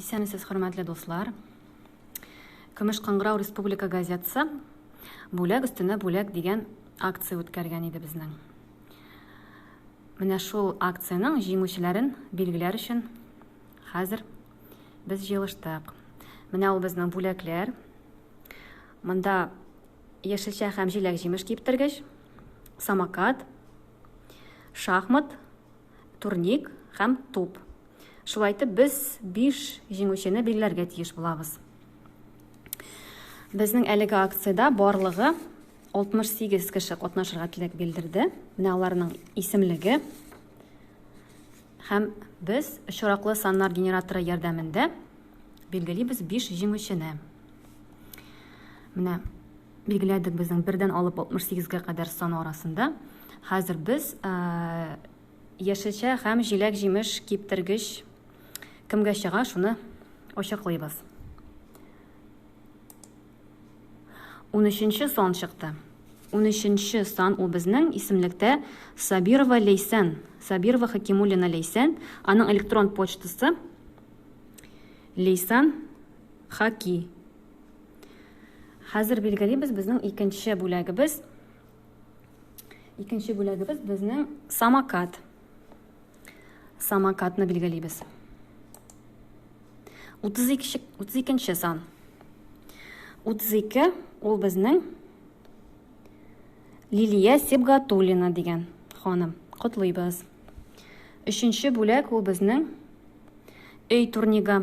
Исәнмесез, хөрмәтле дуслар. Көмеш кыңгырау республика газетасы бүләк өстенә бүләк дигән акция үткәргән иде безнең. Менә шул акциянең җиңүчеләрен билгеләр өчен хәзер без җыелыштык. Менә ул безнең бүләкләр. Монда яшелчә һәм җиләк-җимеш киптергеч, самокат, Шахмат, турник һәм туп. Шулай итеп без 5 җиңүчене билгеләргә тиеш булабыз. Безнең әлеге акциядә барлыгы 68 кеше катнашырга теләк белдерде. Менә аларның исемлеге һәм без очраклы саннар генераторы ярдәмендә билгелибез 5 җиңүчене. Менә Билгеләдек безнең бердән алып 68-гә кадәр сан арасында. Хәзер без яшелчә һәм җиләк-җимеш киптергеч кемгә чыга, шуны ачыклыйбыз. 13-нче сан чыкты. 13-нче сан ул безнең исемлектә Сабирова Лейсән, Сабирова Хакимуллина Лейсән, аның электрон почтасы Лейсан Хаки Хәзер билгелибез безнең икенче бүләгебез. Икенче бүләгебез безнең самокат. Самокатны билгелибез. 32 32 сан. 32 ул безнең Лилия Сибгатуллина дигән ханым. Котлыйбыз. Өченче бүләк ул безнең өй турнигы.